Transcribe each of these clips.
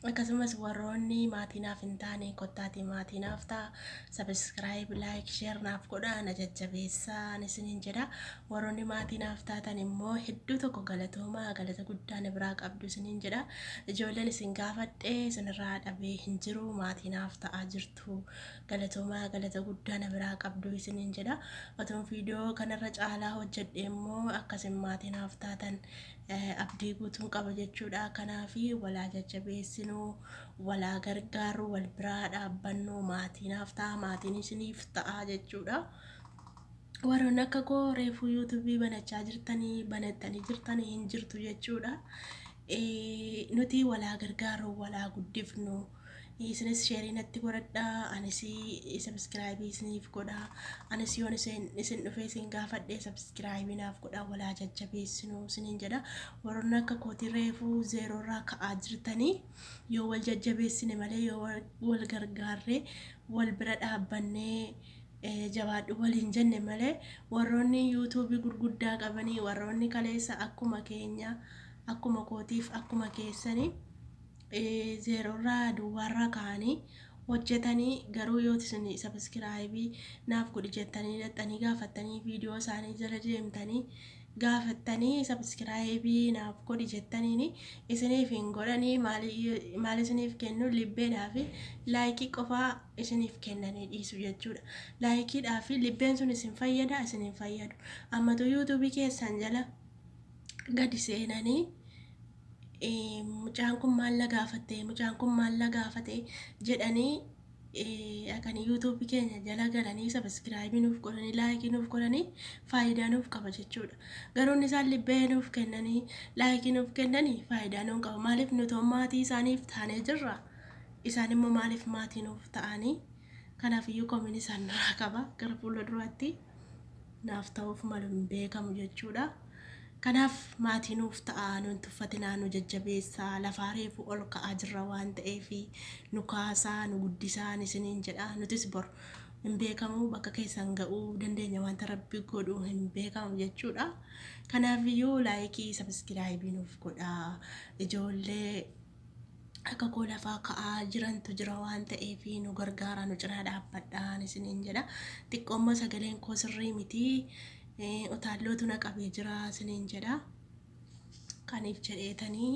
Akkasumas warroonni maatii naaf hin taane kottaatii maatii naaf ta'a. Subscribe, like, share naaf godha na jajjabeessaa isiniin jedha. Warroonni maatii naaf taatan immoo hedduu tokko galatoomaa galata guddaa na biraa qabdu isiniin jedha. Ijoolleen isin gaafadhe isinirraa dhabee hin jiru maatii naaf ta'aa jirtu. Galatoomaa galata guddaa na biraa qabdu isiniin jedha. Otuun viidiyoo kanarra caalaa hojjedhe immoo akkasin maatii naaf taatan abdii guutuun qaba jechuudha. Kanaaf wal haa jajjabeessinu, wal haa gargaarru, wal bira haa dhaabbannu, maatii naaf ta'a, maatiin isiniif ta'a jechuudha. Warroonni akka koo reefuu yuutuubii banachaa jirtanii, banattanii jirtanii hin jirtu jechuudha. Eh, Nuti wal haa gargaarru, wal haa guddifnu, isinis sheerii natti godhadha anis sabiskiraayibii isiniif godha anis yoon isin isin dhufee isin gaafadhe sabiskiraayibii naaf godha walaa jajjabeessinu isiniin jedha warroonni akka kootii reefuu zeeroorraa ka'aa jirtanii yoo wal jajjabeessine malee yoo wal- wal gargaarree wal bira dhaabbannee eh, jabaadhu waliin jenne malee warroonni yuutuubii gurguddaa qabanii warroonni kaleessa akkuma keenya akkuma kootiif akkuma keessanii zeerorraa duwwaarraa ka'anii hojjetanii garuu yooti isin sabiskiraayibii naaf godhi jettanii dhaxxanii gaafattanii viidiyoo isaanii jala deemtanii gaafattanii sabiskiraayibii naaf godhi jettaniin isiniif hin godhanii maal isiniif kennu libbeedhaa fi laayikii qofaa isiniif kennanii dhiisu jechuudha laayikiidhaa fi libbeen sun isin fayyada isin hin fayyadu ammatu yuutuubii keessan jala gadi seenanii mucaan kun maal na gaafatte mucaan kun maal na gaafate jedhanii akan yuutuubii keenya jala galanii sabiskiraayibii nuuf godhanii laayikii nuuf godhanii faayidaa nuuf qaba jechuudha. Garuu inni isaan libbee nuuf kennanii laayikii nuuf kennanii faayidaa nuun qaba maaliif nutoo maatii isaaniif taanee jirra isaan immoo maaliif maatii nuuf ta'anii kanaaf iyyuu komiin isaan nuraa qaba gara fuula duraatti. naaf ta'uuf malu hin beekamu jechuudha. Kanaaf maatii nuuf ta'aa, nu hin tuffatinaa, nu jajjabeessaa, lafaa reefuu ol ka'aa jirra waan ta'eef nu kaasaa, nu guddisaan isiniin jedha. Nutis bor hin beekamu bakka keessan ga'uu dandeenya wanta rabbi godhu hin beekamu jechuudha. Kanaaf iyyuu laayikii sabiskiraayibii nuuf godhaa. Ijoollee akka koo lafaa ka'aa jirantu jira waan ta'eef nu gargaaraa nu cinaa dhaabbadhaan isiniin jedha xiqqoo immoo sagaleen koo sirrii miti utaallootu na qabee jira isiniin jedha kaniif jedheetanii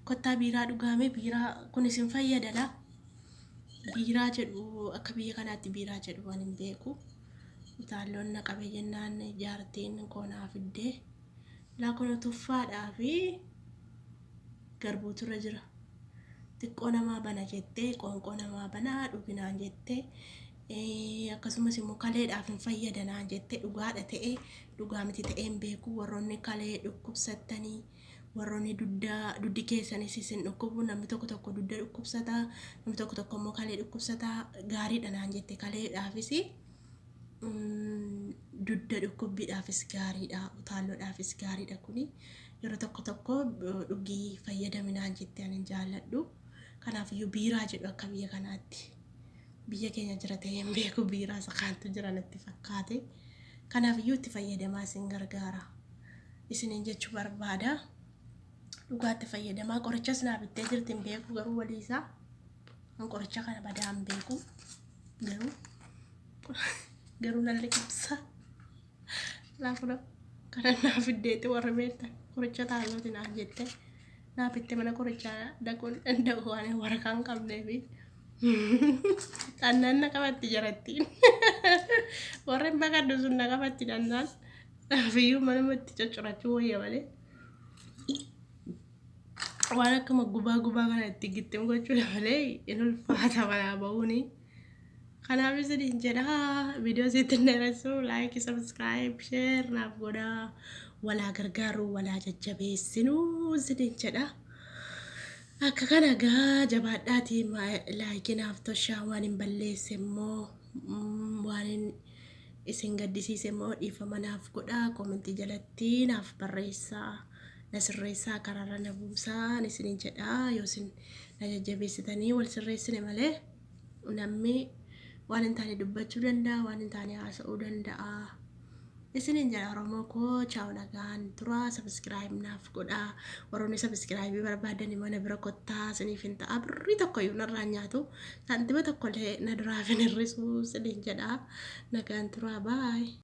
kottaa biiraa dhugaame biiraa kun isin fayyadala biiraa jedhu akka biyya kanaatti biiraa jedhu waan hin beeku utaalloon na qabee jennaan jaartiin koo naa fiddee laa kun tuffaadhaa fi garbuutu irra jira. Xiqqoo namaa bana jettee qoonqoo namaa bana dhugi naan jette. Eh, Akkasumas immoo kaleedhaaf hin fayyada naan jette dhugaadha ta'ee dhugaa miti ta'ee hin beeku warroonni kalee dhukkubsattanii warroonni dugda dugdi keessanis isin dhukkubu namni tokko tokko dugda dhukkubsata namni tokko tokko immoo kalee dhukkubsata gaariidha naan jette kaleedhaafis mm, dugda dhukkubbiidhaafis gaariidha utaalloodhaafis gaariidha kuni Yeroo tokko tokko dhugii fayyadami naan jette ani hin jaalladhu. Kanaafiyyuu biiraa jedhu akka biyya kanaatti biyya keenya jira ta'ee hin beeku biiraa isa kaantu jira natti fakkaate. Kanaafiyyuu itti fayyadamaa isin gargaara. Isiniin jechuu barbaada. Dhugaatti fayyadamaa qorichas naa bittee jirti hin beeku garuu walii isaa an qoricha kana badaa hin beeku garuu garuu nan liqimsa. Laafuna kadhannaa fiddeetti warra beektan qoricha taalooti naaf jette naaf itti mana qorichaa dhaquun danda'u waan waraqaa hin qabnee fi dhannaan na qabatti jarattiin warra hin baqadhu sun na qabatti dhannaan naafiyyuu manuma itti coccirachuu wayya malee waan akkuma gubaa gubaa kana itti gittim gochuudha malee hin ulfaata manaa ba'uunii. Kanaaf isiniin jedha viidiyoo sitti hin dheeressu laayikii sabiskiraayib sheer naaf godha walaa gargaaruu walaa jajjabeessinu isiniin jedha. Akka kana gaa jabaadhaatii laayikii naaf toshaa waan hin balleesse immoo mm, waan hin isin gaddisiise immoo dhiifama naaf godha koomentii jalatti naaf barreessaa na sirreessaa karaarra na buusaa isiniin jedha yoo isin na jajjabeessitanii wal sirreessine malee. Namni waan hin taane dubbachuu danda'a, waan hin taane haasa'uu danda'a. Isiniin jala Oromoo koo chaa'u nagaan tura sabiskiraayib naaf godha. Warroonni sabiskiraayibii barbaadani mana bira kottaa isiniif hin ta'a. Birrii tokkoyyuu narraa hin nyaatu. Saantima tokkollee na duraa hin hir'isu isiniin jedha. Nagaan tura baay.